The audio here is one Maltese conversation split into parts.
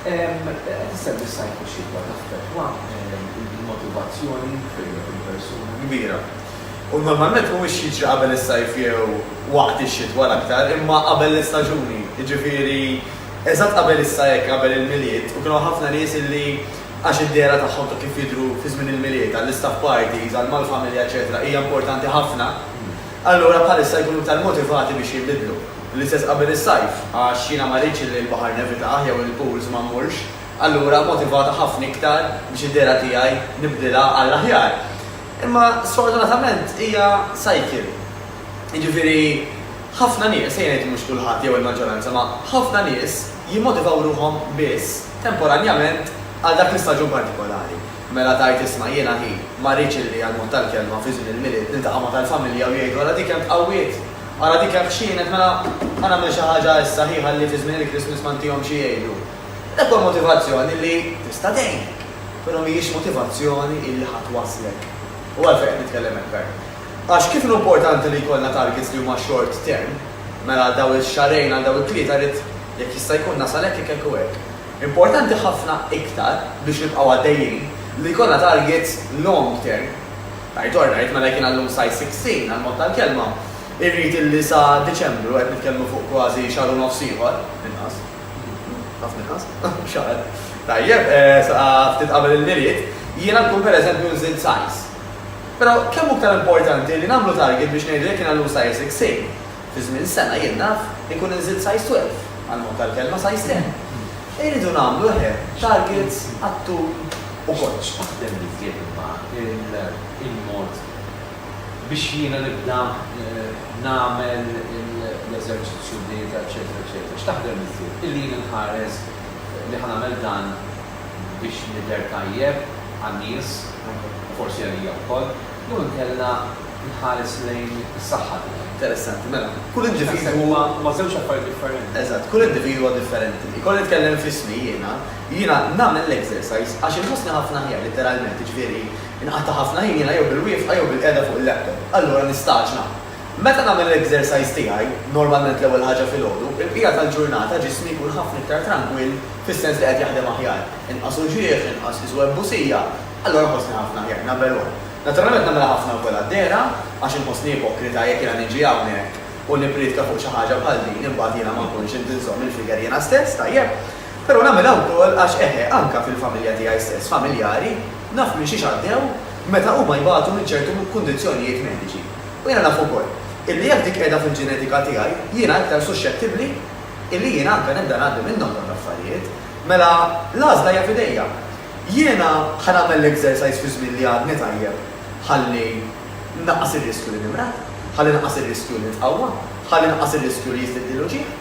Qed issemmi s-sajf-ix-xitwa u taffettwa l-motivazzjoni fejn qed il-persuna kbira. U normalment mhuwiex jiġri qabel is-sajf jew waqt ix-xitwa l-aktar, imma qabel l-istaġuni, jiġifieri eżatt qabel issa hekk qabel il-Milied u kien hawn ħafna nies illi għax id-dehra tagħhom ta' kif jidhru fi żmien il-Milied għall-istaff parties, għal mal-familja eċċetera hija importanti ħafna, allura bħalissa jkunu iktar motivati biex jinbidlu. L-istess qabel is-sajf, għax jiena ma rridx li l-baħar nevitah jew il-pools ma mmurx, allura motivata ħafna iktar biex id-dehra tiegħi nibdilha għall-aħjar. Imma sfortunatament hija cycle. Jiġifieri ħafna nies, ejja ngħid mhux kulħadd jew il-maġġoranza, ma ħafna nies jimmotivaw ruħhom biss temporanjament għal dak l-istaġun partikolari. Mela tgħid isma' jiena hi, ma rridx li għall-mod tal-kelma fi żmien il-Milied niltaqa' ma' tal-familja u jgħidu ara dik kemm tqawwiet! Ara dik hekk x'kienet, mela ħa nagħmel xi ħaġa issa hi ħalli fi żmien il-Christmas ma ntihomx xi jgħidu. Dak huwa motivazzjoni li tista' tgħinek, però mhijiex motivazzjoni li ħa twasslek. U għalfejn qed nitkellem hekk Karl? Għax kif inhu importanti li jkollna targets li huma short term, mela għal dawn ix-xahrejn, għal dawn it-tlieta rrid jekk jista' jkun nasal hekk hekk hekk u hekk. Importanti ħafna iktar biex nibqgħu għaddejjin li jkollna targets long term. Right or right, mela jekk jiena llum size 16, għall-mod tal-kelma, irrid illi sa Diċembru, qed nitkellmu fuq kważi xahar u nofs ieħor, inqas, ħafna inqas, xahar, tajjeb, sa ftit qabel il-Milied, jiena nkun pereżempju nżidt size. Però kemm hu iktar importanti li nagħmlu target biex ngħidu jekk jiena llum size 16, Fi żmien sena jien naf inkun inżilt size 12, għall-mod tal-kelma, size 10. Irridu nagħmlu eħe targets għat-tul ukoll. X'taħdem iżjed imma il-mod biex jiena nibda nagħmel l-eżerċizzju d-dieta eċċetera eċċetera, x'taħdem iżjed? Illi jien inħares li ħa nagħmel dan biex nidher tajjeb għan-nies u forsi għalija wkoll? Jew inkella nħares lejn is-saħħa tiegħi. Interessanti, mela. Kull individwu. Naħseb huma, huma żewġ affarijiet differenti. Eżatt, kull individwu huwa differenti. Jekk kont nitkellem f'ismi jiena, jiena nagħmel l-exercise għax inħossni ħafna aħjar litteralment, jiġifieri inqata' ħafna ħin jiena jew bil-wieqfa jew bil-qiegħda fuq il-laptop. Allura nistagħġla. Meta nagħmel l-exercise tiegħi, normalment l-ewwel ħaġa filgħodu, il-bqija tal-ġurnata ġismi jkun ħafna iktar trankwill fis-sens li qed jaħdem aħjar. Inqas uġigħ, inqas iżwebbusija. Allura nħossni ħafna aħjar nagħmel hekk. Naturalment nagħmilha ħafna wkoll għad-dehra għax inħossni ipokrita jekk jiena niġi hawnhekk u nippriedka fuq xi ħaġa bħal din imbagħad jiena ma nkunx int inżomm il-figure jiena stess, tajjeb. Però nagħmilha wkoll għax eħe anke fil-familja tiegħi stess, familjari, naf minn xiex għaddew meta huma jbatu minn ċertu kundizzjonijiet mediċi. U jiena naf ukoll illi jekk dik qiegħda fil-ġenetika tiegħi jiena iktar suxxettibbli illi jiena anke nibda ngħaddi minnhom dawn l-affarijiet. Mela l-għażla hija f'idejja. Jiena ħa nagħmel l-exercise fi żmien li għadni tajjeb ħalli nnaqqas ir-riskju li nimrad, ħalli naqqas ir-riskju li nitqawwa, ħalli naqqas ir-riskju li jiżdiedli l-uġigħ?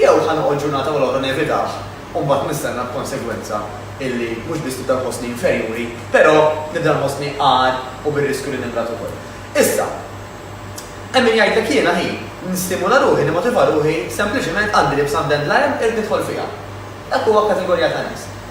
Jew ħa noqgħod ġurnata wara l-oħra nevitah u mbagħad nistenna b'konsegwenza illi mhux biss nibda nħossni inferjuri, però nibda nħossni agħar u bir-riskju li nimrad ukoll? Issa, hemm min jgħidlek jiena hi nistimula ruħi, nimmotiva ruħi, sempliċement għandi libsa mdendla hemm, irrid nidħol fiha. Dak huwa kategorija ta' nies.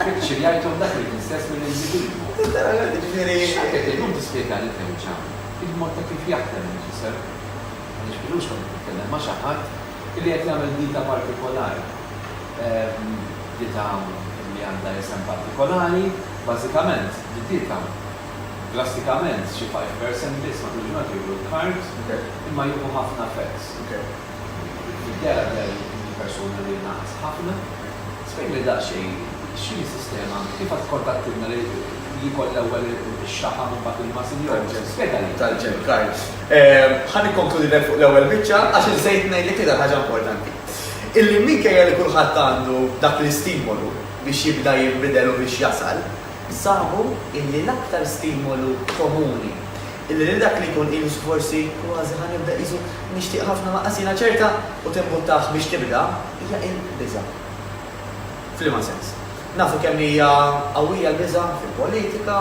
Picture jgħidhom dak li kien stess mill-individwu. Letteralment, jiġifieri. X'hekk qed illum tispjega lil Kenċa il-mod ta' kif jaħdem il-ġisem? Għaliex Piluxka qed titkellem ma' xi ħadd li qed jagħmel dieta partikolari. Dieta li għandha isem partikolari, bażikament d-dieta drastikament xi five percent biss matul il-ġurnata jieklu l-carbs imma jieħu ħafna fats. Tiddikjara li għalik din il-persuna li ngħaqas ħafna. Spjegali daqsxejn x'inhi s-sistema, kif għad tkontattilna li jkoll l-ewwel ix-xaħam u mbagħad il-muscle jew spjegali. Tal-ġenkar. Ħa nikkonkludilek fuq l-ewwel biċċa għax insejt ngħidlek l-iktar ħaġa importanti. Illi minkejja li kulħadd għandu dak l-istimolu biex jibda jinbidel u biex jasal, sabu illi l-aktar stimolu komuni Illi lil dak li jkun qisu forsi kważi ħa nibda qisu nixtieq ħafna lanqas jiena ċerta u timbuttah biex tibda hija l-biża'. F'liema sens? Nafu kemm hija qawwija l-biża' fil-politika,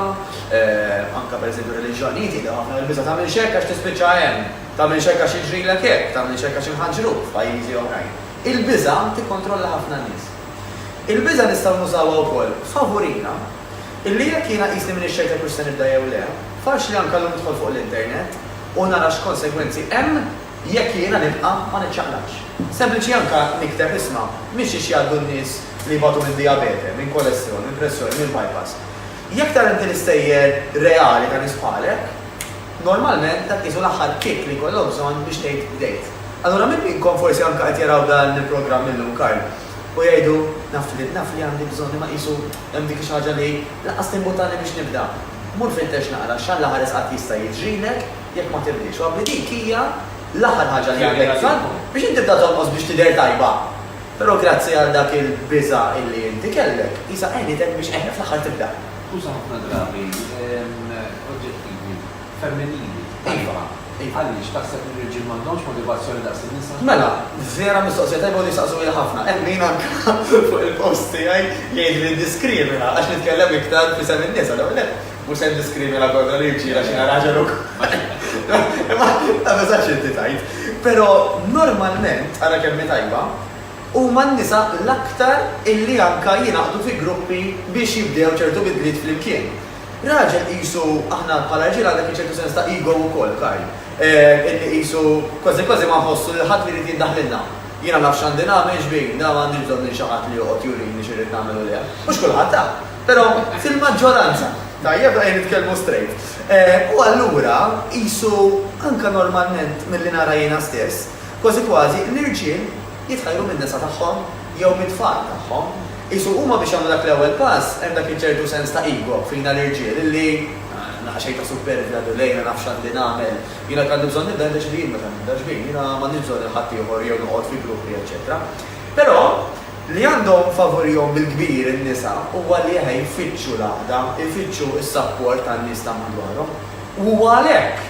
anke pereżempju r-reliġjonijiet jidhru ħafna li l-biża' tagħmilx hekk għax tispiċċa hemm, tagħmilx hekk għax jiġrilek hekk, tagħmilx hekk għax inħaġġruk f'pajjiżi oħrajn. Il-biża' tikkontrolla ħafna nies. Il-biża' nistgħu nużawha wkoll favurina. Illi jekk jiena qisni m'iniex ċert jekk hux se nibda jew le, faċli anke llum nidħol fuq l-internet u nara x'konsegwenzi hemm jekk jiena nibqa' ma niċċaqlaqx. Sempliċi anke nikteb isma' mixiex jgħaddu n-nies li jbatu minn dijabete, minn kolestrol, minn pressjoni, minn bypass. Jekk tara inti l-istejjer reali ta' nies bħalek, normalment dak qisu l-aħħar kick li jkollok bżonn biex tgħid bdejt. Allura min minnkom forsi anke qed jaraw dan il-programm illum, Karl, u jgħidu, naf li naf li għandi bżonn imma qisu, Hemm dik xi ħaġa li, lanqas timbutani biex nibda. Mur fittex naqra x'Alla ħares qatt jista' jiġrilek jekk ma tibdiex. U abbli dik hija l-aħħar ħaġa li għandek bżonn biex inti tibda tonqos biex tidher tajba. Però grazzi għal dak il-biża' illi inti kellek, qisha għenitek biex għenet fl-aħħar tibda. Tuża ħafna drabi oġġettivi. femminili, tajba, hi għaliex taħseb li r-riġiel m'għandhomx motivazzjoni daqs in-nisa? Mela, vera mistoqsija tajba u tistaqsuha ħafna. Hemm min anke fuq il-post tiegħi jgħidli li nddiskrimina għax nitkellem iktar f'isem in-nisa. L-ewwel nett, mhux se nddiskrimina kontra l-irġiel għax jiena raġel ukoll. Imma ma tasax inti tgħid. Però normalment, ara kemm hi tajba, huma n-nisa l-aktar illi anke jingħaqdu fi gruppi biex jibdew ċertu bidliet flimkien. Raġel qisu aħna bħala rġiel għandha fih ċertu sens ta' ego wkoll, Karl. Illi qisu kważi kważi ma nħossu lil ħadd li jrid jiddaħlilna. Jiena naf x'għandi nagħmel, x'bini, dan m'għandix bżonn minn xi ħadd li joqgħod jurini x'irrid nagħmel u le. Mhux kulħadd, ha! Però fil-maġġoranza. Tajjeb, ejja nitkellmu strejt. U allura qisu anke normalment milli nara jiena stess, kważi kważi l-irġiel, jitħajru min-nisa tagħhom jew mit-tfal tagħhom. Qisu huma biex jagħmlu dak l-ewwel pass hemm dak iċ-ċertu sens ta' ego fina l-irġiel illi, Naqa' xejn ta' superbja du lejn, ma nafx x'għandi nagħmel. Jiena jekk għandi bżonn nibda nindeċidi jien meta nibda ġbin. Jiena m'għandix bżonn lil ħaddieħor jew noqgħod fi gruppi eċċetera. Però, li għandhom favurihom bil-kbir in-nisa huwa li eħe jfittxu l-għaqda, ifittxu s-sapport tan-nies ta' madwarhom. U huwa għalhekk!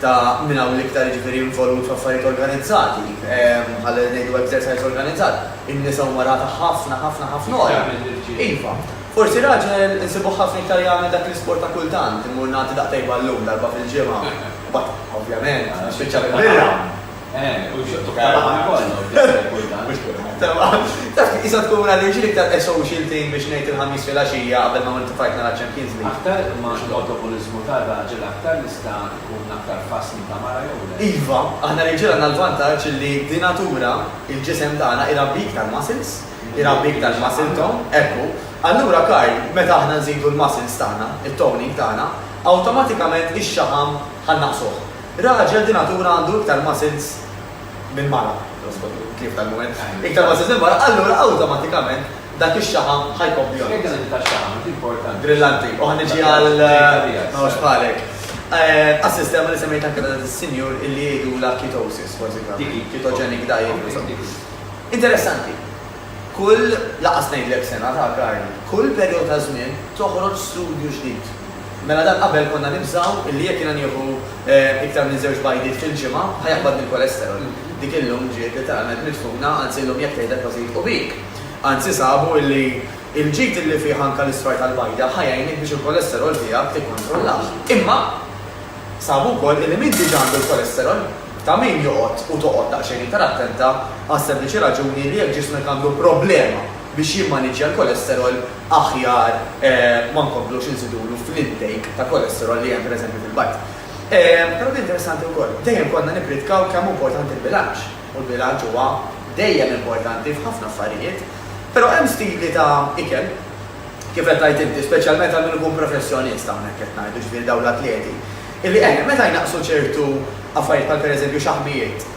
ta' min hawn l-iktar jiġifieri involut f'affarijiet organizzati, bħal ngħidu exercise organizzat, in-nisa huma rata ħafna ħafna ħafna ogħla. Iva, forsi raġel insibuh ħafna iktar jagħmel dak l-isport ta' kultant, immur nagħti daqtej ballun darba fil-ġimgħa u mbagħad, ovvjament, nispiċċa bil-birra. Eh, u xottu karaħa kollu, Taf, jisa tkun għalli ġili ktar e-social thing biex nejt il-ħamis fil-axija għabel ma għamil tufajt nara Champions League. Aktar ma l-autopolizmu ta' raġel aktar nista' tkun aktar fasni ta' mara jew le. Iva, aħna rġiel għandna l-vantaġġ li dinatura il-ġisem tagħna irabbi iktar muscles, irabbi iktar muscle tone, ekku. Allura Karl, meta aħna nżidu l-muscles tagħna, it-toning tagħna, awtomatikament ix-xaħam ħa naqsuh. Raġel di natura għandu iktar muscles minn mara, l-ospot hu tlief tal-mument, iktar muscles minn mara, allura awtomatikament dak ix-xaħam ħa jkompli jonqos. X'jgħid dan il-ħin tax-xaħam, int importanti. Brillanti, u ħa niġi għal m'hawnx bħalek. Għas-sistema li semmejt anke ta' dak is-sinjur illi jgħidulha ketosis, kważi kważi, ketogenic diet, insomma. Interessanti. Kull, lanqas ngħidlek sena ta' karni, kull perjodu ta' żmien toħroġ studju ġdid. Mela dan qabel konna nibżgħu illi jekk jiena nieħu iktar minn żewġ bajdiet fil-ġimgħa ħa jaqbadni l-kolesterol. Dik illum ġiet litteralment midfuna, anzi llum jekk tgħidha kważi jilħqu bik. Anzi sabu illi l-ġid illi fih anke l-isfar tal-bajda ħa jgħinek biex il-kolesterol tiegħek tikkontrollah. Imma sabu wkoll illi min diġà għandu l-kolesterol, Ta' min joqgħod u toqgħod daqsxejn iktar attenta għas-sempliċi raġuni li jekk ġismek għandu problema biex jimmaniġġja l-kolesterol aħjar ma nkomplux inżidulu fl-intake ta' kolesterol li hemm pereżempju fil-bajd. Però din interessanti wkoll. Dejjem konna nippritkaw kemm hu importanti l-bilanċ, u l-bilanċ huwa dejjem importanti f'ħafna affarijiet. Però hemm stili ta' ikel, kif qed tgħid inti, speċjalment għal min ikun professjonist hawnhekk qed ngħidu, ġifieri dawn l-atleti, Illi eħna meta jnaqqsu ċertu affarijiet bħal pereżempju xaħmijiet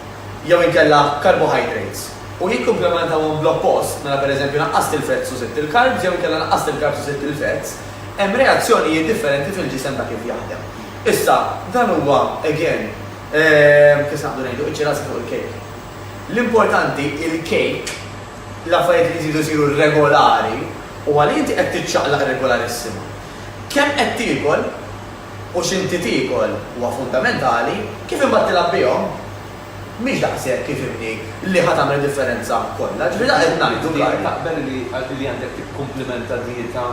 jew inkella carbohydrates u jikkumplementawhom bl-oppost, mela pereżempju naqqast il-fats u żidt il-carbs jew inkella naqqast il-carbs u żidt il-fats, hemm reazzjonijiet differenti fil-ġisem ta' kif jaħdem. Issa, dan huwa, again, ehm, kif naqdu ngħidu, iċ-ċirasa fuq il-cake. L-importanti il-cake, l-affarijiet li jżidu jsiru regolari u għalli inti qed tiċċaqlaq regolarissima. Kemm qed tiekol, u x'inti tiekol huwa fundamentali, kif imbagħad tilgħab bihom mhix daqshekk ifhimni li ħa tagħmel id-differenza kollha. Ġifieri dak qed ngħidu, Karl. Inti taqbel li li għandek tikkumplimenta dieta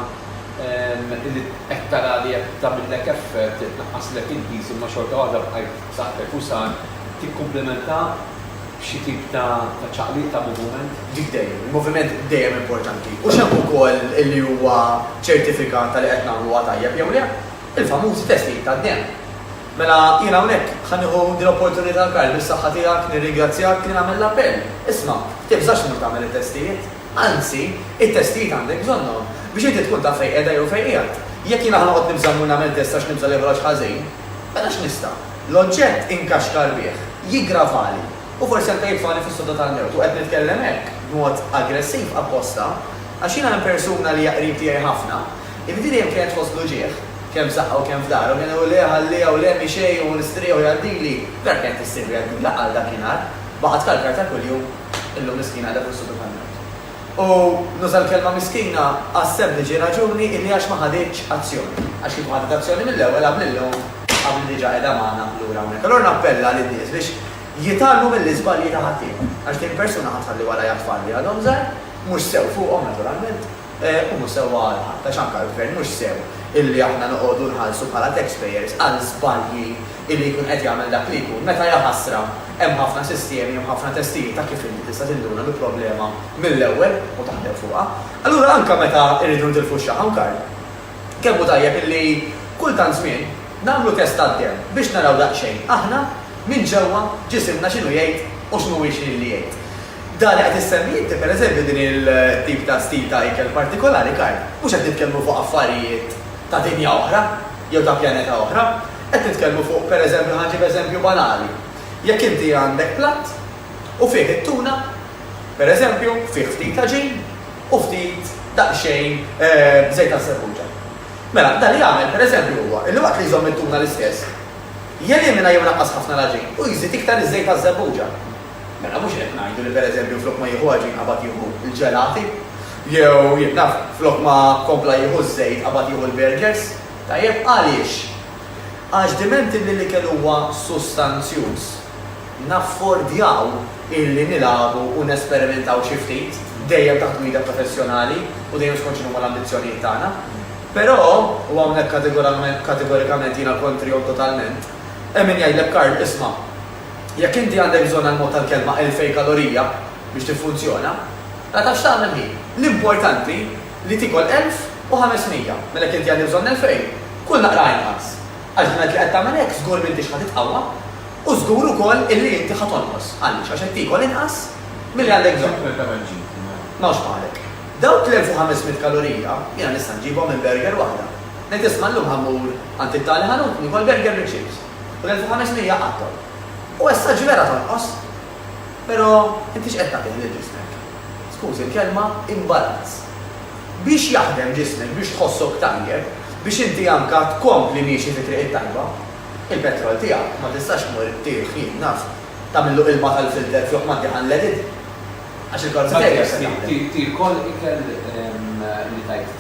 li qed tara li qed tagħmillek effett, qed tnaqqaslek il-piż imma xorta waħda bqajt b'saħħtek u san, tikkumplimenta? Xi tip ta' ċaqliq, ta' moviment? Dik dejjem. Il-moviment dejjem importanti. Hux hemm ukoll li huwa ċertifikat ta' li qed nagħmluha tajjeb jew le? Il-famużi testijiet tad-demm. Mela jiena hawnhekk ħa nieħu din l-opportunità Karl, bis-saħħa tiegħek, nirringrazzjak li nagħmel l-appell. Isma', tibżax tmur tagħmel it-testijiet. Anzi, it-testijiet għandek bżonnhom biex inti tkun taf fejn qiegħda jew fejn qiegħed. Jekk jiena ħa noqgħod nibża' mmur nagħmel test għax nibża' li joħroġ ħażin, mela x'nista'? L-oġġett inkaxkar bih, jiggravali u forsi anke jitfagħli fis-sodda tal-mewt u qed nitkellem hekk b'mod aggressiv apposta għax jiena minn persuna li hija qrib tiegħi ħafna, illi din dejjem kienet fost l-uġigħ, kemm f'żaqqha u kemm f'dahra u kien iqul le ħalliha u le mhix hi u nistrieħ u jgħaddili, vera kienet issirli għaddila għal dakinhar, baqgħet kalkar ta' kuljum, illum miskina qiegħda fis-sodda tal-mewt. U nuża l-kelma miskina għas-sempliċi raġuni illi għax ma ħaditx azzjoni. Għax kieku ħadet azzjoni mill-ewwel qabli llum qabli diġà qiegħda magħna lura hawnhekk. Allura nappella lin-nies biex jitgħallmu mill-iżbalji ta' ħaddieħor. Għax din persuna ħa tħalli warajha tfal li għadhom żgħar, mhux sew fuqhom naturalment, u mhux sewwa għal ħadd għax anke għall-Gvern mhux sew illi aħna noqogħdu nħallsu bħala taxpayers għal żbalji Illi jkun qed jagħmel dak li jkun meta jaħasra hemm ħafna sistemi, hemm ħafna testijiet ta' kif inti tista' tinduna bi problema mill-ewwel u taħdem fuqha. Allura anke meta rridu nitilfu x-xaħam Karl, kemm hu tajjeb illi kull tant żmien nagħmlu test tad-demm biex naraw daqsxejn aħna minn ġewwa ġisimna x'inhu jgħid u x'mhuwiex li jgħid. Dan li qed issemmi inti pereżempju din il-tip ta' stil ta' ikel partikolari Karl, mhux qed nitkellmu fuq affarijiet ta' dinja oħra jew ta' pjaneta oħra, Qed nitkellmu fuq, per eżempju, ħa nġib eżempju banali, jekk inti għandek platt u fih it-tuna, per eżempju, fih ftit l-għaġin u ftit daqsxejn żejt għas-serruġa. Mela, dan li jagħmel, per eżempju, huwa li waqt li jżomm it-tuna l-istess, jelimina jew inaqqas ħafna l-għaġin u jżid iktar iż-żejt għaż-żebbuġa. Mela, mhux qed ngħidu li, per eżempju, flok ma jieħu għaġin qabad jieħu l-ġelati, jew, jien naf, flok ma kompla jieħu ż-żejt qabad jieħu l-burgers. Tajjeb għaliex? Għax dimenti li l-ikel huwa sustanzjuż, naffordjaw illi nilagħbu u nesperimentaw xi ftit, dejjem taħt gwida professjonali u dejjem skont x'inhuma l-ambizzjonijiet tagħna. Però, u hawnhekk kategorikament jiena kontrihom totalment, hemm min jgħidlek Karl, isma', jekk inti għandek bżonn għall-mod tal-kelma elfej kalorija biex tiffunzjona, la tafx tagħmel hi. L-importanti, li tiekol elf u ħames mija, mela jekk inti għandi bżonn elfejn, kul naqra inqas. Għax b'mod li qed tagħmel hekk żgur m'intix ħa titqawwa u żgur ukoll illi inti ħa tonqos. Għaliex? Għax qed tiekol inqas milli għandek bżonn. M'hawnx bħalek. Dawk l-elf u ħames mitt kalorija jiena nista' nġibhom minn burger waħda. Ngħid isma' llum ħa mmur għand it-tali ħanut, niekol burger bi chips. U l-elf u ħames mija għadhom. U essa ġieli ara tonqos. Pero inti x'qed tagħti lil ġismek? Skużi l-kelma, imbalanz. Biex jaħdem ġismek, biex tħossok tajjeb, biex inti anka tkompli miexi fi triq it-tajba. Il-petrol tiegħek ma tistax tmur tih, jien naf, tagħmillu ilma tal-filter fih ma ddih unleaded. Għax il-karozza tiegħi hija se taħdem. Tiekol ikel li tajt.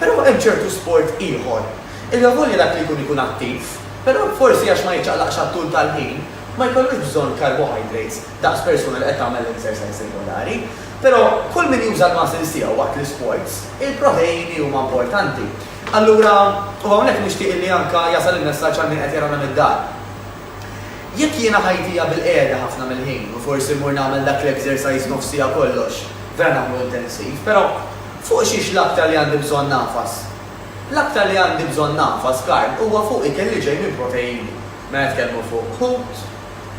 Però hemm ċertu sport ieħor illi avolja dak li jkun ikun attiv, però forsi għax ma jiċċaqlaqx għat-tul tal-ħin, ma jkollux bżonn carbohydrates daqs persuna li qed tagħmel l-exercise regolari. Però kull min juża l-muscles tiegħu waqt l-isports, il-proteini huma importanti. Allura, u hawnhekk nixtieq illi anke jasal il-messaġġ għal min qed jarana mid-dar. Jekk jiena ħajtija bil-qiegħda ħafna mill-ħin u forsi mmur nagħmel dak l-exercise nofs siegħa kollox, vera nagħmlu intensiv, però fuq xiex l-aktar li għandi bżonn nagħfas? L-aktar li għandi bżonn nagħfas, Karl, huwa fuq ikel li ġej minn proteini. Mela nitkellmu fuq ħut,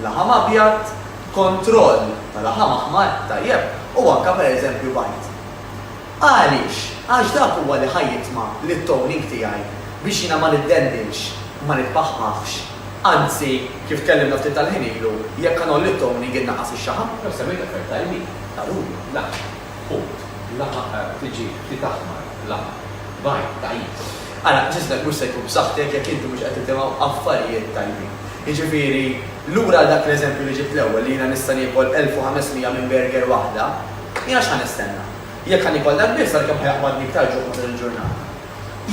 laħam abjad, kontroll ta' laħam aħmar, tajjeb, u anke pereżempju bajd. Għaliex? Għax dak huwa li ħa jitma' lit-towning tiegħi biex jiena ma niddendilx, ma nitpaħħafx. Anzi, kif tkellimna ftit tal-ħin ilu, jekk ħa ngħolli t-towning innaqqas ix-xaħam. Jew semmejt affarijiet tajbin, taruni, laħam, ħut, laħam, tġieħ, ħtiet aħmar, laħam, bajt, tagħjis. Ara, ġismek mhux se jkun b'saħħtek jekk inti mhux qed tisimgħu affarijiet tajbin. Jiġifieri, lura għal dak l-eżempju li ġibt l-ewwel li jiena nista' niekol 1500 minn burger waħda, Jiena x'ħa nistenna? Jekk ħa niekol dak biss, għalkemm ħa jaqbadni iktar ġuħ matul il-ġurnata.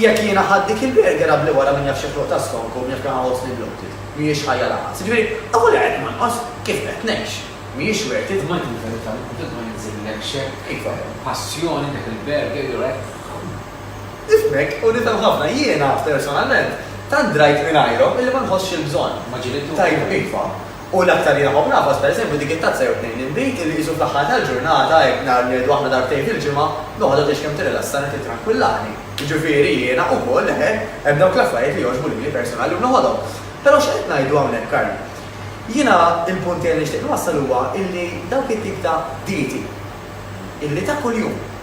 Jekk jiena ħadt dik il-bergera bli wara min jaf xi ħruq ta' skonk u min jaf kemm ħa ħossni bloated, mhijiex ħajja lanqas. Jiġifieri, ewwel qed nonqos kif qed ngħix. Mhijiex worth it. Ngħidlek il-verità, minn tant ma jinżillek xejn. Iva, passjoni dik il-berger, you're right. Nifhmek u nifhem ħafna. Jiena, personalment, tant drajt mingħajrhom illi ma nħossx il-bżonn. Ma ġilidthomx. Tajjeb, iva. U l-aktar li nafhom nafas, pereżempju, dik it-tazza jew tnejn inbid illi qisu fl-aħħar tal-ġurnata, hekk nhar li ngħidu aħna darbtejn fil-ġimgħa, noħodha tgħix kemm tirrilassani u tittrankwillani. Jiġifieri jiena ukoll, eħe, hemm dawk l-affarijiet li jogħġbu lili personali u noħodhom. Però x'qed ngħidu hawnhekk, Karl? Jiena l-punt tiegħi li nixtieq nwassal huwa illi dawk it-tip ta' dieti illi ta' kuljum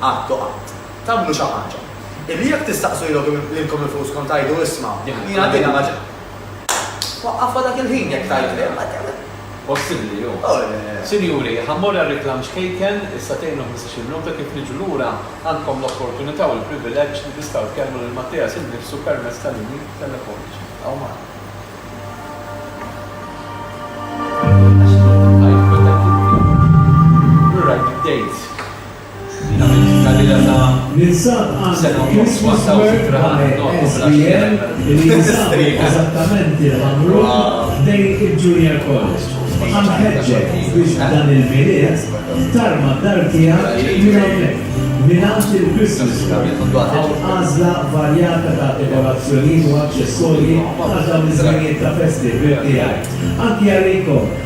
Qatt u qatt. Tagħmlu xi ħaġa. Illi jekk tistaqsu lilkom infushom tgħidu, Isma', hija din ma ġietx. Waqqafha dak il-ħin jekk tgħid le, ma tgħidx le. Possibbli hu. Sinjuri, ħa mmur għar-reklam ċkejken, issa tgħinu ħmistax il-minuta, kif niġu lura għandkom l-opportunità u l-privileġġ li tistgħu tkellmu lil Mattias innifsu permezz ta' linji telefoniċi. Ibqgħu magħna. Ninsab għand Christmas Work by SBL li jinsab eżattament il-Ħamrun ħdejn il-Junior College. Ħa nħeġġek biex dan il-Milied tarma d-dar tiegħek minn hawnhekk, mingħand il-Christmas Work. Hawn għażla varjata ta' dekorazzjonijiet u aċċessorji għal dawn iż-żminijiet ta' festi ħbieb tiegħi. Anki għalikom!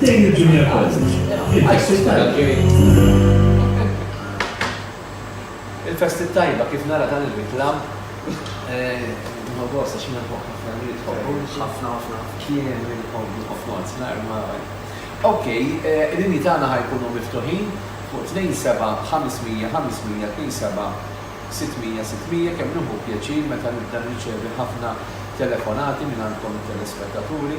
Lejn il-Junior College, il-Festi t-Tajba. Il-Festi t-Tajba, kif nara dan ir-riklamm, nieħu gost għax jiena nħobb ħafna li jitħobbu. Ħafna ħafna. Kien li nħobbu ħafna għad nar ma. Okej, il-linji tagħna ħa jkunu miftuħin fuq 27-500-500-27-600-600 kemm nieħu pjaċir meta nibda nirċevi ħafna telefonati mingħandkom it-telespettaturi.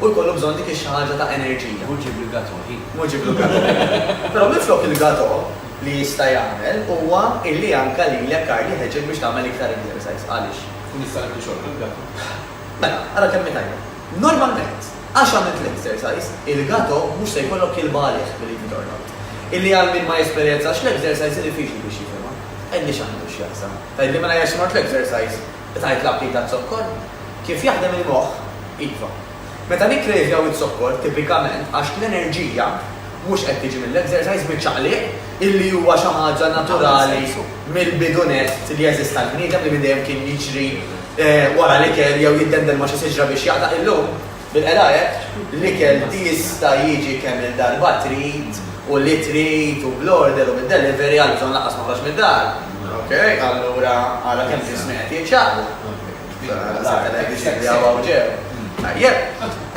u jkollu bżonn dik ix-xi ħaġa ta' enerġija. Hu ġieb il-gatò, hi. Hu ġieb il-gatò. Però minflok il-gatò li jista' jagħmel huwa illi anka lilek Karl jħeġġek biex tagħmel iktar exercise. Għaliex? U nista' nieħdu xogħol bil-gatò. Mela, ara kemm hi tajba. Normalment, għax għamilt l-exercise, il-gatò mhux se jkollok ilba għalih billi titornod. Illi għal min ma jesperjenzax l-exercise hi diffiċli biex jifhimha. Għidli x'għandu x'jaqsam. Tgħidli mela jekk se mort l-exercise, Tgħid l-abli taz-zokkor? Kif jaħdem il-moħħ? Iva. Meta nikkrejvjaw iz-zokkor, tipikament għax l-enerġija mhux qed tiġi mill-exercise, miċ-ċaqliq, illi huwa xi ħaġa naturali mill-bidu nett li jeżist għall-bniedem li minn dejjem kien jiġri wara l-ikel jew jiddendel ma' xi siġra biex jaqta', illum, Bilqeda hekk, l-ikel jista' jiġi kemm-il darba trid u li trid u bl-order u bid-delivery għaliex dan lanqas ma ħroġ mid-dar. Ok, allura ara kemm ġismi qed jinxaqlu. Saqtellek biex jidri hawn hawn ġew. Tajjeb.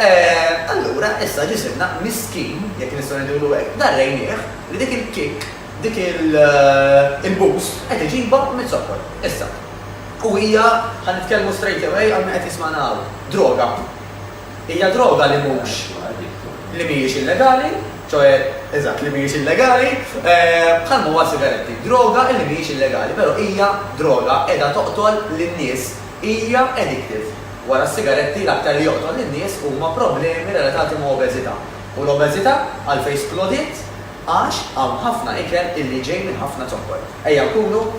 Eh, allura issa ġisimna miskin, jekk nistgħu ngħidulu hekk, darrejnieh li dik il-kick, dik il-boost qed iġibha miz-zokkor. Issa. U hija, ħa nitkellmu straight away għal min qed jismagħna hawn, droga. Hija droga li mhux, li mhijiex illegali, ċoe, eżatt, li mhijiex illegali, bħal ma huwa s-sigaretti. Droga li mhijiex illegali, però hija droga qiegħda toqtol lin-nies, hija addictive. Wara s-sigaretti, l-aktar li joqtol lin-nies huma problemi relatati ma' obeżità. U l-obeżità għalfejn splodiet? Għax hawn ħafna ikel illi ġej minn ħafna zokkor. Ejja nkunu.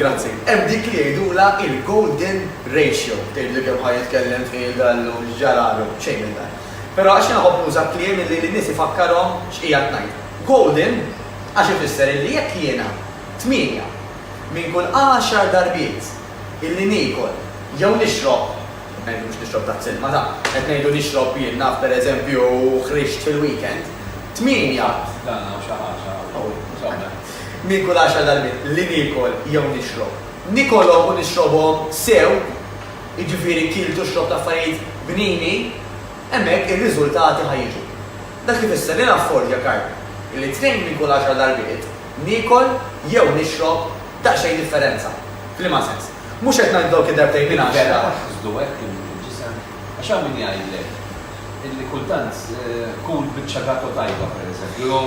Grazzi. Hemm dik li jgħidulha il-golden ratio. Tgħidli kemm ħa jitkellem tqil Gallo, x'ġaralu, xejn minn dan. Però għax jiena nħobb nuża kliem illi lin-nies ifakkarhom x'qiegħed ngħid. Golden għax ifisser illi jekk jiena tmienja minn kull għaxar darbiet illi niekol jew nixrob, qed ngħidu mhux nixrob tazz ilma, ta, qed ngħidu nixrob jien naf pereżempju ħrixt fil-weekend, tmienja. Tazz dan hawn xi ħaġa hawn. Hawn. Mhux hawn le. minn kull għaxar darbiet li niekol jew nixrob. Nikolhom u nixrobhom sew, jiġifieri kilt u xrobt affarijiet bnini, hemmhekk ir-riżultati ħa jiġu. Dak ifisser li nafforġja karti illi tnejn minn kull għaxar darbiet niekol jew nixrob daqsxejn differenza. F'liema sens? Mhux qed ngħid dawk id-darbtejn minn għaxra. Vera taħsdu hekk illi fil-ġisem? Għax hawn min jgħidlek illi kultant kul biċċa gato tajba, pereżempju, jew.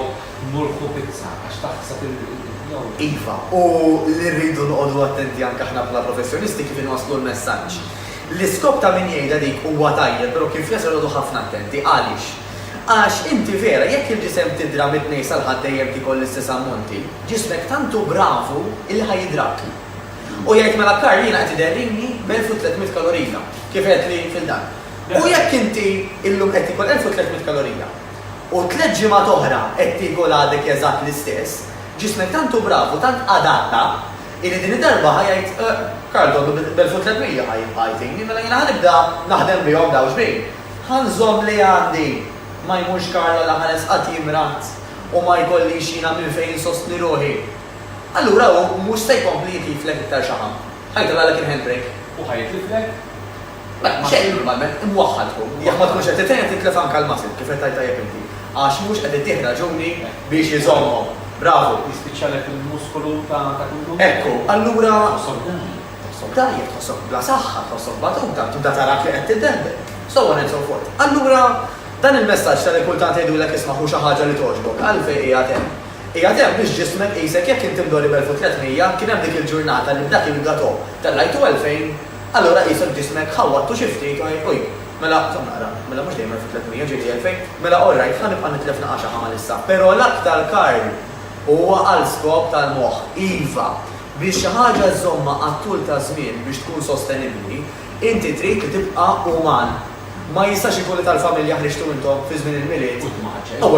Mulħu pizza għax taħsad il-ħin jew le. Iva, u li rridu noqogħdu attenti anke aħna bħala professjonisti kif inwasslu l-messaġġ. L-iskop ta' min jgħidha dik huwa tajjeb però kien fl-isfel noqogħdu ħafna attenti. Għaliex? Għax inti vera jekk il-ġisem tidra mit-tnejn sal-Ħadd dejjem tiekol l-istess ammonti, ġismek tant hu bravu illi ħa jidrak. U jgħid mela Karl jiena qed iderrini b'elf u tliet mitt kalorija, kif għedtli fil-dar. U jekk inti illum qed tiekol elf u tliet mitt kalorija, u tliet ġimgħat oħra qed tieku l-għadek eżatt l-istess, ġismek tant hu brav u tant adatta illi din id-darba ħa jgħid, Karl donnu b'elf-u-tlietmija ħa jtini, mela jiena ħa nibda naħdem bihom dawn xbin? Ħa nżomm li għandi, ma jmurx Karl għal ħares qatt jimrad u ma jkollix jiena minn fejn insostni ruħi. Allura hu mhux se jkompli jitliflek iktar xaħam. Ħa jitellgħalek il-handbrake u ħa jitliflek. Mela, ma xejn normalment imwaħħal tkun. Jekk ma tkunx qed titgħin titlef anke l-muscle, kif qed tgħid tajjeb inti. Għax mhux qed ittih raġuni biex iżommhom. Bravu. Jispiċċalek il-muskolu ta' kull jum. Ekku, allura. Tħossok dgħajjef. Tħossok dgħajjef, tħossok bla saħħa, tħossok batuta, tibda tarak li qed tiddendel. So on and so forth. Allura, dan il-messaġġ ta' li kultant jgħidulek isma' ħu xi ħaġa li togħġbok, għalfejn qiegħed hemm? Qiegħed hemm biex ġismek qisek jekk inti mdorri b' 1300, kien hemm dik il-ġurnata li b'dak il-gateau tellajtu 2000. Allura qishom ġismek ħawwadtu xi ftit u u jien, Mela, żomm naqra, mela mhux dejjem għarfu tliet mija, ġieli elfejn, mela all right, ħa nibqa' nitlef naqaxa ħa Malissa. Però l-aktar Karl huwa għal skop tal-moħħ, iva, biex xi ħaġa żżommha għat-tul ta' żmien biex tkun sostenibbli, inti trid li tibqa' uman. Ma jistax ikun li tal-familja ħriġtu intom fi żmien il-Milied u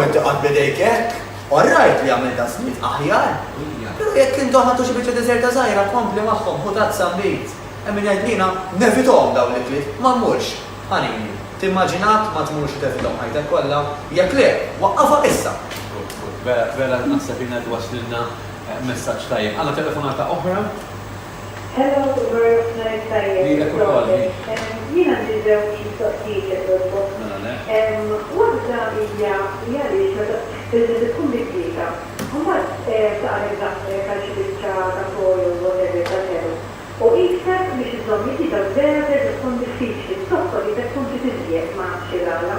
inti tqagħad b'idejk hekk. All right li għamel daqsmiet aħjar, pero jekk intom ħadtu xi biċċa deżerta żgħira kompli magħhom ħu tazza nbid. Hemm min jgħid li jiena nevitahom dawn l-ikliet, ma mmurx. Ħanini, timmaġinak ma tmurx u tevitahom ħajtek kollha? Jekk le, waqqafha issa! Good, good. Vera, vera naħseb jiena qed iwaslilna messaġġ tajjeb. Għandna telefonata oħra? Hello Umar F'najr tajjeb proset Jien għandi żewġ mistoqsijiet jekk jogħġbok Waħda hija li għaliex meta il-ġilda tkun mikwieta mbagħad taqleb daqsek għal xi biċċa ta' foil whatever ta' telu u qisek biex iżżomm il-ġilda vera terġa' tkun diffiċli b'tokkoll idek tkun trid iżjed ma nafx il-għala.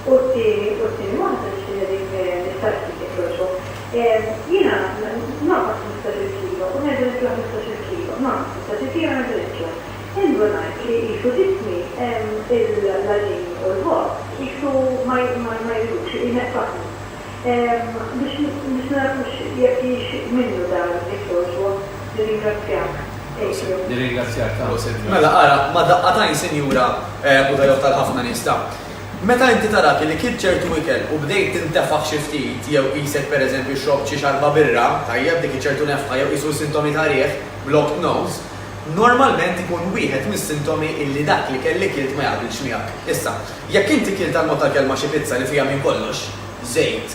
U t-tieni, u t-tieni waħda nixtieq nirrik nistaqsi jekk jogħġbok. Jiena nonqos ħmistax-il kilo u nerġa' nitla' ħmistax-il kilo, nonqos ħmistax-il kilo u nerġa' nitla'. Indunajt li qisu ġismi l-għaġin u l-ħobż qisu ma jridux, ineqqsahom. biex biex nagħrfux jekk hix minnu dan it-torġwa. Nirringrazzjak, Adrian. Nirringrazzjak tal-ghos, Adrian. Mela ara, ma' daqqatajn sinjura Budajov tal-ħafna nies ta'. Meta inti tarak illi kilt ċertu ikel u bdejt tintefaħ xi ftit jew qisek per eżempju xrobt xi xarba birra, tajjeb, dik hi ċertu nefħa jew qisu sintomi ta' riħ, blocked nose, normalment ikun wieħed mis-sintomi illi dak l-ikel li kilt ma jaqbilx miegħek. Issa, Jekk inti kilt għal mod tal-kelma xi pizza li fiha minn kollox, żejt,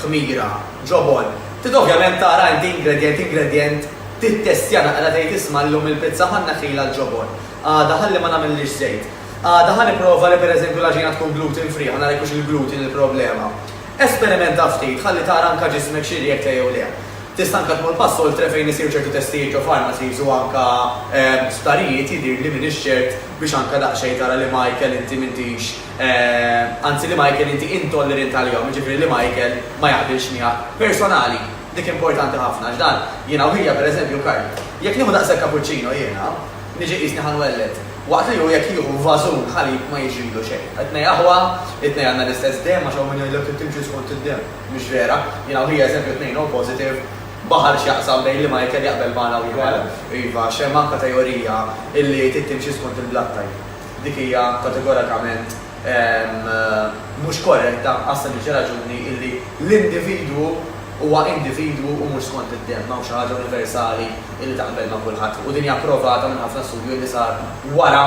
ħmira, ġobon, trid ovvjament tara inti ingredjent ingredjent, tittestja naqra tgħid isma' llum il-pizza ħa nneħħilha l-ġobon, għada ħalli ma nagħmillhiex żejt, għada ħa nipprova li pereżempju l-għaġina tkun gluten free ħa nara jekk hux il-gluten il-problema. Esperimenta ftit ħalli tara anke ġismek xi rriekta jew le. Tista' anke tmur pass oltre fejn isiru ċertu testijiet ġo pharmacies u anke sptarijiet jidhirli m'iniex ċert Biex anke daqsxejn tara li Michael inti m'intix, anzi li Michael inti intollerint għalihom, jiġifieri li Michael ma jaqbilx miegħek. Personali, dik importanti ħafna għax dan, jiena u ħija pereżempju Karl, jekk nieħu daqshekk kapuċċino jiena, niġi qisni ħa nwelled, waqt li hu jekk jieħu vażun ħalib ma jiġrilu xejn. It-tnejn aħwa, it-tnejn għandna l-istess demm għax hawn min jgħidlek li timxi skont id-demm. Mhix vera. Jiena u ħija eżempju t-tnejn oppositive. Baħar x'jaqsam bejn li Michael jaqbel magħna u jħall? Iva, għax hemm anka teorija illi trid timxi skont il-blood type. Dik hija kategorakament mhux korretta għas-sempliċi raġuni illi l-individwu huwa individwu u mhux skont id-demm. M'hawnx xi ħaġa universali illi taqbel ma' kulħadd. U din hija provata minn ħafna studju illi sar wara.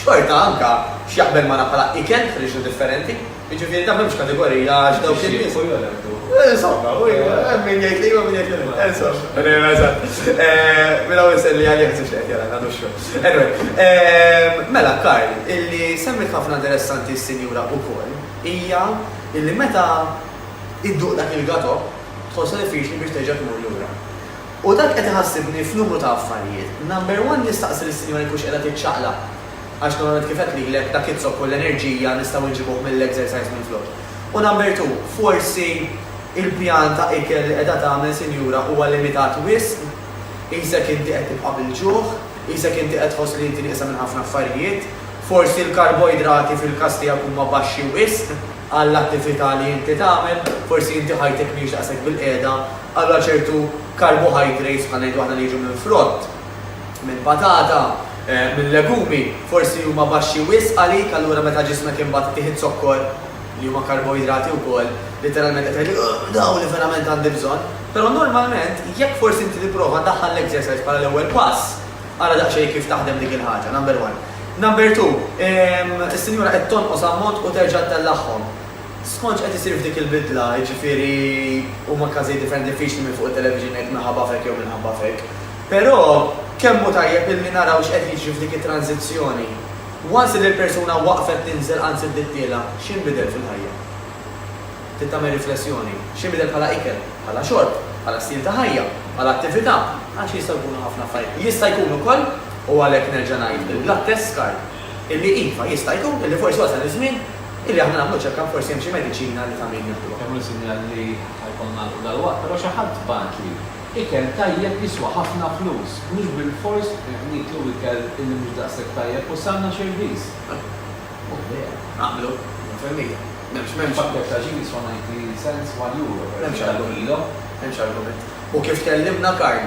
Xorta anka x'jaqbel magħna bħala ikel friġnu differenti, jiġifieri dan m'hemmx kategorija għax dawk in-nies. Jixtiequ jew jagħtu. Insomma, hemm min jgħid li iva u min jgħid li le. Insomma, eżatt. Min hawn iselli għalih ħsibx li qed jara nagħdu x-xogħol. Anyway, mela Karl, illi semmiet ħafna interessanti s-sinjura ukoll hija illi meta idduq dak il-gato tħossha diffiċli biex terġa' tmur lura. U dan qed iħassibni f'numru ta' affarijiet. Number one, nistaqsi lis-sinjora jekk hux qiegħda tiċċaqlaq. Għax normalment kif għedt lilek, dak iz-zokk u l-enerġija nistgħu nġibuh mill-exercise minflok. U number two, forsi il-pjan ta' ikel li qiegħda tagħmel sinjura huwa limitat wisq? Qisek inti qed tibqa' bil-ġuħ? Qisek inti qed tħoss li inti nieqsa minn ħafna affarijiet? Forsi l-karboidrati fil-każ tiegħek huma baxxi wisq għall-attività li inti tagħmel? Forsi inti ħajtek mhijiex daqshekk bil-qiegħda Allura ċertu carbohydrates bħal ngħidu aħna li jiġu minn frott, minn patata, minn legumi, forsi huma baxxi wisq għalik allura meta ġismek imbagħad iħit zokkor li huma karboidrati wkoll, litteralment qed tgħid ugh dawn li verament għandi bżonn. Però normalment jekk forsi inti tipprova daħħal l-exercise bħala l-ewwel pass, ara daqsxejn kif taħdem dik il-ħaġa, number one. Number two, is-sinjura qed tonqos ammont u terġa' ttellagħhom. Skont x'qed isir f'dik il-bidla, jiġifieri huma każijiet differenti diffiċli minn fuq it-television ngħid minħabba f'hekk jew minħabba f'hekk, però kemm hu tajjeb illi naraw x'qed jiġri f'dik it-transizzjoni. Once illi l-persuna waqfet tinżel anzi bdiet tiela' x'inbidel fil-ħajja? Trid tagħmel riflessjoni. X'inbidel bħala ikel, bħala xorb, bħala stil ta' ħajja, bħala attività, għax jistgħu jkunu ħafna affarijiet. Jista' jkun ukoll, u għalhekk nerġa' ngħid, il-blood test scar. Illi iva, jista' jkun illi forsi wasal iż-żmien illi aħna nagħmlu check-up forsi hemm xi mediċina li ta' min nieħduha. Kemm hu sinjal li ħa jkollna nagħlqu dalwaqt, però xi ħadd bagħatli, Ikel tajjeb jiswa ħafna flus, mhux bilfors nieklu ikel illi mhux daqshekk tajjeb u salna xi rbiż. Hu vera. Naqblu, mitt fil-mija. M'hemmx, m'hemmx. Pakkett ta' ġin jiswa 90 cents, one euro, pereżempju, għall-kilo. M'hemmx argument. U kif tkellimna Karl,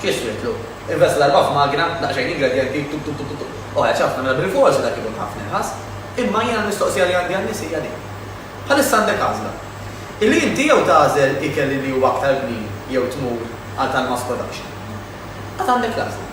Xi jiswitlu? Invest l-erbgħa f'magna, daqsxejn ingredjenti, tup tup tup tup. O għedt ħafna, mela bilforsi dak ikun ħafna irħas. Imma jiena l-mistoqsija li għandi għan-nies hija din. Bħalissa għandek għażla. Illi inti jew tagħżel ikel illi huwa aktar bnin jew tmur għal tal-mass production. Għad għandek l-għażla.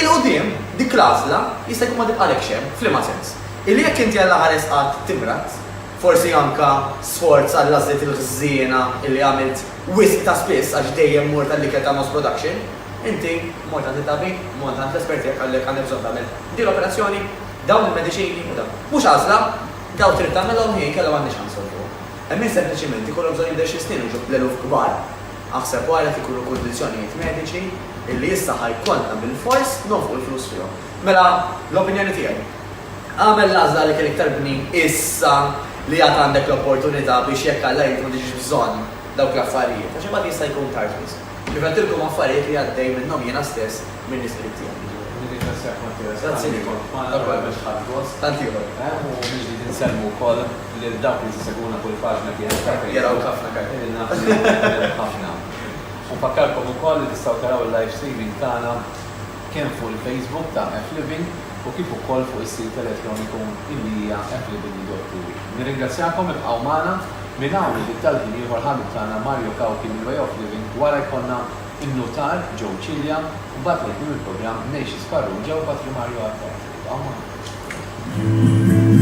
Il-quddiem, dik l-għażla jista' jkun ma tibqalekx hemm, f'liema sens? Illi jekk inti Alla ħares qatt timrad, forsi anke sforz għall-għażliet il-ħżiena illi għamilt, Wisq ta' spiss għax dejjem mort għall-ikel ta' Nos Production. Inti, mort għand it-tabib, mort għand l-espert tiegħek qalek għandek bżonn tagħmel din l-operazzjoni, dawn il-mediċini u dan. Mhux għażla, dawn trid tagħmilhom hi inkella m'għandniex ħa nsolvuha. Hemm min sempliċiment ikollhom bżonn jibdew xi snin u jġu bl-eluf kbar. Aħseb wara jekk ikunu kundizzjonijiet mediċi illi issa ħa jkollna bilfors nonfqu l-flus fihom. Mela, l-opinjoni tiegħi. Agħmel l-għażla li kien iktar kmieni issa li għad għandek l-opportunità biex jekk Alla jrid ma tiġix bżonn dawk l-affarijiet għax imbagħad jista' jkun tard wisq. Kif għedtilkom affarijiet li għaddej minnhom jiena stess minn l-Isprit tiegħi. Nirringrazzjak Mattias talli kont magħna verament ħadt gost. Tant ieħor. U mill-ġdid insellmu wkoll lil dawk li jsegwuna kull paġna kienet ta' Facebook. Jarawk ħafna Karl. Li naf li jaraw ħafna. U nfakkarkom ukoll li tistgħu taraw il-live streaming tagħna. kemm fuq il-Facebook ta' F-Living u kif ukoll fuq is-sit elettroniku illi hija fliving.eu. Nirringrazzjakom ibqgħu magħna minn hawn u bit-talb minn ieħor ħabib tagħna Mario Cauchi minn Way of Living wara jkollna n-Nutar Joe Cilia u mbagħad għal tmiem il-programm Neishis Farrugia u Patri Mario Attard. Ibqgħu magħna.